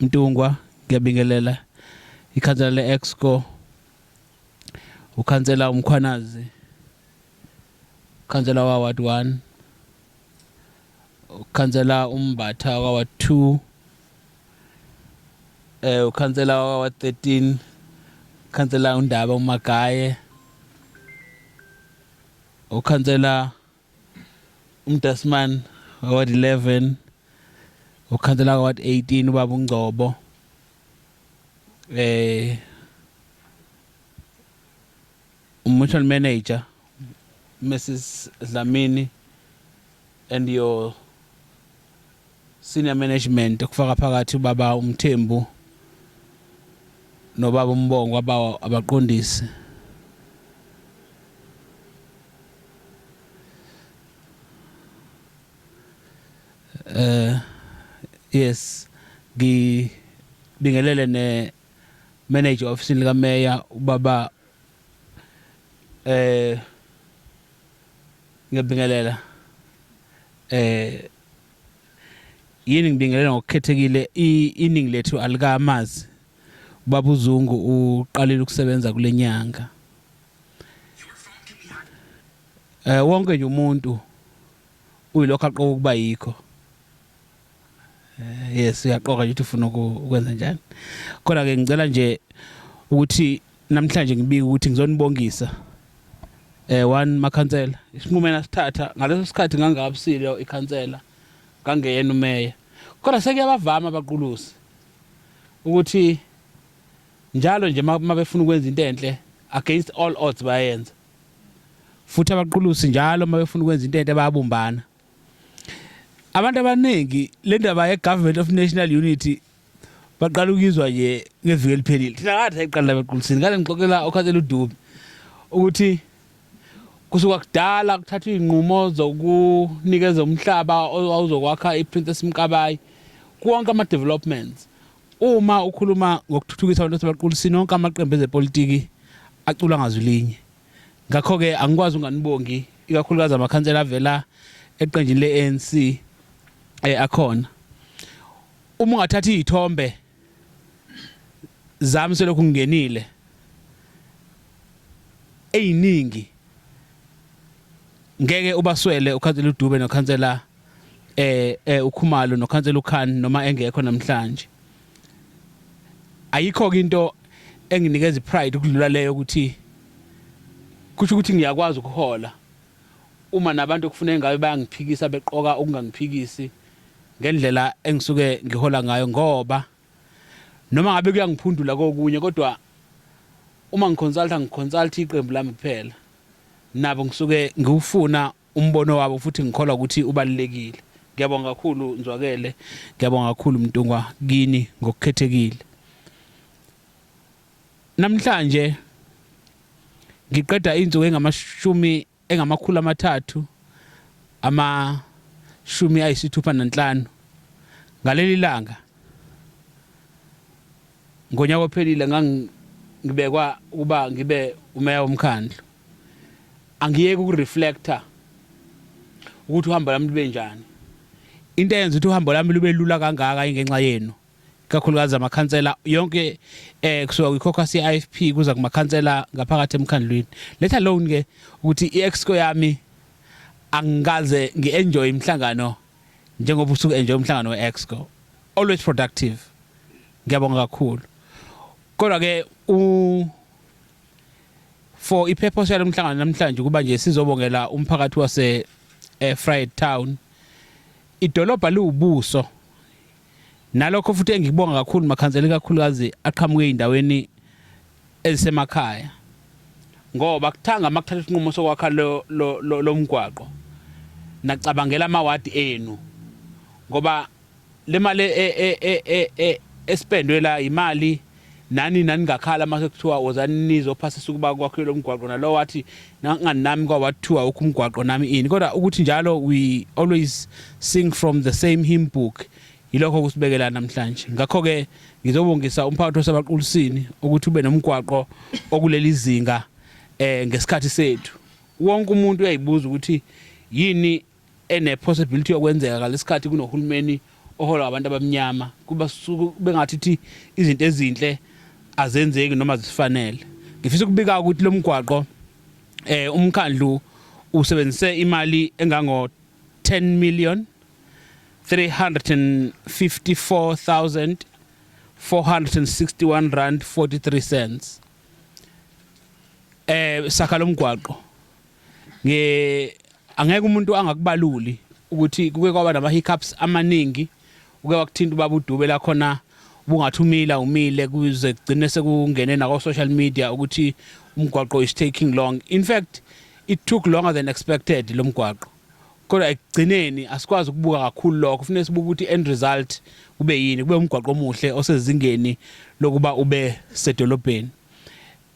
Mntungwa ngiyabingelela ikhansela le-exco ukhansela umkhwanazi ukhansela waward one ukhansela umbatha waward two um eh, ukhansela waward thirteen ukhansela undaba umagaye ukhansela umdasman ward 11 ukhansela ward 18 ubaba ungcobo eh umutual manager Mrs Dlamini and your Senior Management kufaka phakathi ubaba uMthembu nobaba uMbongo abawa abaqondisi eh yes ngibingelele ne manager office lika mayor ubaba eh Ngiyabingelela. Eh yini ngibingelela ngokukhethekile iningi lethu alikamazi Baba uZungu uqalile ukusebenza kulenyanga. Eh wonke nje umuntu uyilokho aqoka ukuba yikho. Eh, yes uyaqoka ukuthi ufuna ukwenza njani kodwa ke ngicela nje ukuthi namhlanje ngibike ukuthi ngizonibongisa eh one makhansela isinqumo enasithatha ngaleso sikhathi ngangabusile ikhansela ngangeyena umeya kodwa sekuyabavama abaqulusi ukuthi njalo nje mabefuna ukwenza into enhle against all odds bayenza futhi abaqulusi njalo mabefuna ukwenza into enhle bayabumbana abantu abaningi le ndaba ye-government of national unity baqala ukuyizwa nje ngeviki eliphelile thina ngathi ayiqala la bequlisini ngale ngixoxela okhathela udubi ukuthi kusuka kudala kuthathwa iy'nqumo zokunikeza umhlaba owawuzokwakha i-princess mkabayi konke ama-developments uma ukhuluma ngokuthuthukisa abantu asebaqulisini onke amaqembu ezepolitiki acula ngazwi linye Ngakho-ke angikwazi unganibongi ikakhulukazi amakhansela avela eqenjini le-ANC eh, akhona. Uma ungathatha izithombe zami selokhu ngingenile eziningi ngeke ubaswele ukhansela uDube nokhansela eh, eh uKhumalo nokhansela uKhan noma engekho namhlanje. ayikho ke into enginikeza ipride ukudlula leyo ukuthi kusho ukuthi ngiyakwazi ukuhola uma nabantu okufuneka ngabe bayangiphikisa beqoka ukungangiphikisi ngendlela engisuke ngihola ngayo ngoba noma ngabe kuyangiphundula kokunye kodwa uma ngiconsulta ngiconsulta iqembu lami kuphela nabo ngisuke ngiwufuna umbono wabo futhi ngikholwa ukuthi ubalulekile. Ngiyabonga kakhulu Nzwakele, ngiyabonga kakhulu Mntungwa kini ngokukhethekile. Namhlanje ngiqeda insuku engamashumi engamakhulu amathathu amashumi ayisithupha nanhlanu ngaleli langa ngonyaka ophelile ngangibekwa ukuba ngibe umeya womkhandlu angiyeke ukureflector ukuthi uhambo lami lube njani into eyenza ukuthi uhambo lami lube lula kangaka ingenxa yenu kakhulukazi amakhansela yonke eh kusuka kwiCaucus yeIFP kuza kumakhansela ngaphakathi emkhandlwini let alone ke ukuthi iExco yami angikaze ngienjoy imhlangano njengoba usuku enjoy umhlangano weExco always productive ngiyabonga kakhulu kodwa ke u For i-purpose yalo mhlangano namhlanje kuba nje sizobongela umphakathi wase eh, Fried Town. Idolobha liwubuso. Nalokho futhi engikubonga kakhulu makhansela kakhulukazi aqhamuke endaweni ezisemakhaya. Ngoba kuthanga makuthatha isinqumo sokwakha lo lomgwaqo. Nacabangela amawadi enu. Ngoba Le mali e, e, e, e, e, e, esipendwe la yimali nani naningakhala mase kuthiwa wozani nizophasisa ukuba kwakhiwe lo mgwaqo nalo wathi nangani nami kwawathiwa wokho umgwaqo nami ini kodwa ukuthi njalo we always sing from the same hymn book yilokho kusibekela namhlanje ngakho-ke ngizobongisa umphakathi wasebaqulisini ukuthi ube nomgwaqo okuleli zinga um ngesikhathi sethu wonke umuntu uyayibuza ukuthi yini ene possibility yokwenzeka ngalesikhathi kunohulumeni ohola abantu abamnyama kuba suku bengathi thi izinto ezinhle azenzeki noma zifanele ngifisa ukubika ukuthi lo mgwaqo eh umkhandlu usebenzise imali engango 10 million 354461 rand 43 cents eh sakha lomgwaqo nge angeke umuntu angakubaluli ukuthi kuke kwaba nama hiccups amaningi uke wakuthinta ubaba uDube la khona ubungathi umila umile kuze kugcine sekungene nako social media ukuthi umgwaqo is taking long in fact it took longer than expected lo mgwaqo kodwa ekugcineni asikwazi ukubuka kakhulu lokho kufanele sibuke ukuthi end result kube yini kube umgwaqo omuhle osezingeni lokuba ube sedolobheni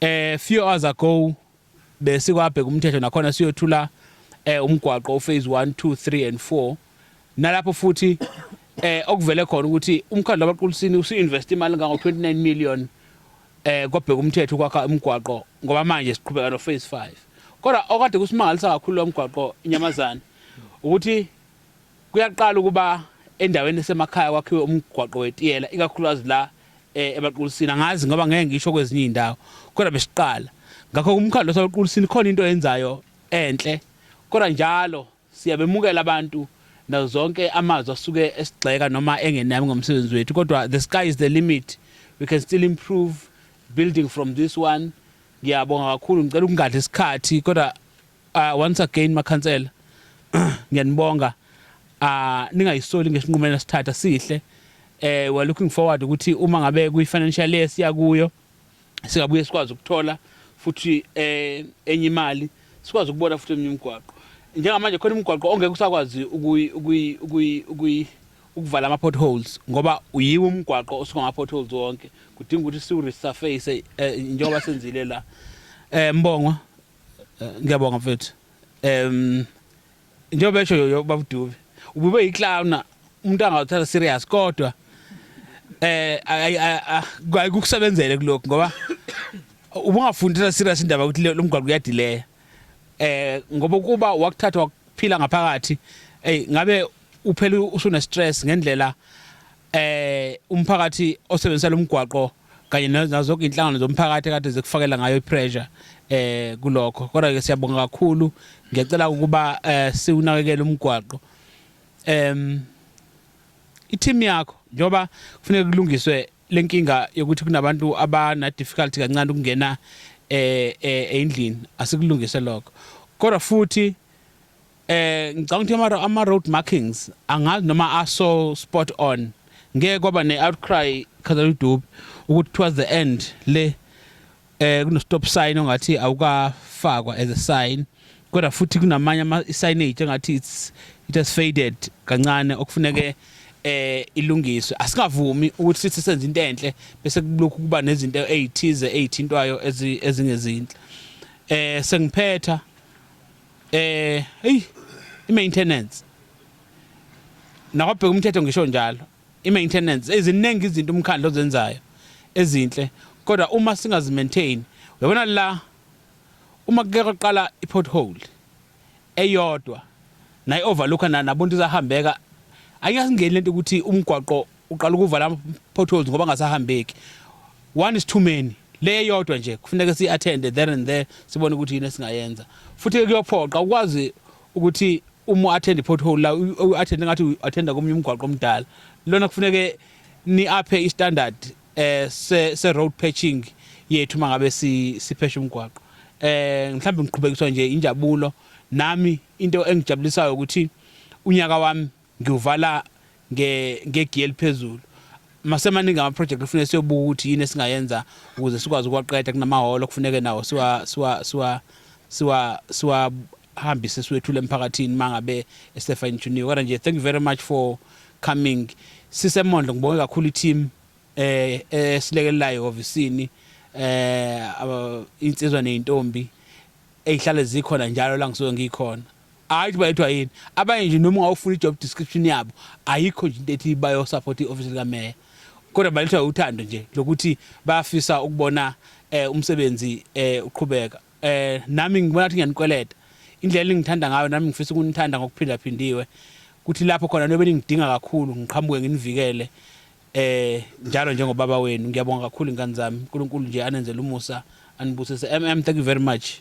eh few hours ago besikwabheka umthetho nakhona siyothula eh umgwaqo uphase 1 2 3 and 4 nalapho futhi eh okuvele khona ukuthi umkhandlu wabaqulisini usu-invest imali engango-29 million eh kwabheka umthetho ukwakha umgwaqo ngoba manje siqhubeka no-phase 5 kodwa okade kusimangalisa kakhulu lo mgwaqo inyamazane ukuthi kuyaqala ukuba endaweni esemakhaya kwakhiwe umgwaqo wetiyela ikakhulukazi la eh ebaqulisini angazi ngoba ngeke ngisho kwezinye indawo kodwa besiqala ngakho kumkhandlo sabaqulisini khona into yenzayo enhle kodwa njalo siyabemukela abantu nazo zonke amazwi asuke esigxeka noma engenami ngomsebenzi wethu kodwa the sky is the limit we can still improve building from this one ngiyabonga kakhulu ngicela ukungadli isikhathi kodwa Uh, once again makhansela ngiyanibonga uh, ningayisoli ngesinqumela esithatha sihle eh we're looking forward ukuthi uma ngabe kuyi financial year siya kuyo singabuye sikwazi ukuthola futhi eh enye imali sikwazi ukubona futhi eminye imigwaqo njengamanje khona imigwaqo ongeke usakwazi ukuyi ukuyi ukuyi ukuyi ukuvala ama potholes ngoba uyiwe umgwaqo osuka ama potholes wonke kudinga ukuthi siwu resurface eh, njengoba senzile la eh mbongwa Eh, ngiyabonga mfethu um njengoba esho yoyo babudubi ubube yiclowna umuntu angawuthatha serious kodwa eh ayikusebenzele kulokhu ngoba ubungafundisa serious indaba ukuthi lo mgwaqo uyadileya eh ngoba kuba wakuthatha wakuphila ngaphakathi hey ngabe uphela usune stress ngendlela eh umphakathi osebenzisa lomgwaqo kanye nazo zonke inhlangano zomphakathi kade zikufakela ngayo ipressure eh kulokho kodwa ke siyabonga kakhulu ngiyacela ukuba eh siwunakekele umgwaqo em i-team yakho njengoba kufanele kulungiswe lenkinga yokuthi kunabantu abana difficulty kancane ukungena eh, eh endlini asikulungise lokho kodwa futhi Eh ngicabanga ukuthi ama ama road markings angazi noma aso spot on. Ngeke kwaba ne outcry khazela udubi ukuthi towards the end le eh kuno stop sign ongathi awukafakwa as a sign kodwa futhi kunamanye ama signage engathi it's it has faded kancane okufuneke eh ilungiswe asingavumi ukuthi sithi senze into enhle bese kulokhu kuba nezinto ezithize ezithintwayo ezingezinhle eh sengiphetha Eh, hey, i-maintenance. Nakwabheka umthetho ngisho njalo. I-maintenance eziningi izinto umkhandlo ozenzayo ezinhle kodwa uma singazimaintain uyabona la uma kuke kwaqala i-pothole eyodwa nayi-overlooka nabontu izahambeka ayingasingeni lento ukuthi umgwaqo uqala ukuvala ama potholes ngoba ngasahambeki one is too many le yodwa nje kufuneka si attend there and there sibone ukuthi yini esingayenza futhi kuyophoqa ukwazi ukuthi uma attend pothole la u attend ngathi u attend komunye umgwaqo omdala lona kufuneke ni aphe i standard eh se, se road patching yethu mangabe si siphesha umgwaqo eh mhlawumbe ngiqhubekiswa nje injabulo nami into engijabulisayo ukuthi unyaka wami ngiwuvala nge ngegiye eliphezulu masemaningi ama project kufanele siyobuka ukuthi yini esingayenza ukuze sikwazi ukwaqeda kunamahholo kufuneke nawo siwa siwa siwa siwa siwa hambise siwethule emphakathini mangabe esefa intuniwe kodwa nje thank you very much for coming sisemondlo ngibonge kakhulu i-team eh esilekelelayo ofisini eh insizwa nezintombi ezihlale zikhona njalo la ngisuke ngikhona hayi ukuthi bayethwa yini abanye nje noma ungawufuna i-job description yabo ayikho nje into ethi bayosupport i-ofisi likameya kodwa balethwa uthando nje lokuthi bayafisa ukubona eh umsebenzi eh uqhubeka eh nami ngibona ukuthi ngiyanikweleta indlela engithanda ngayo nami ngifisa ukunithanda ngokuphindaphindiwe kuthi lapho khona nobe ningidinga kakhulu ngiqhamuke nginivikele eh njalo njengobaba wenu ngiyabonga kakhulu ingane zami uNkulunkulu nje anenzele umusa anibusise mm thank you very much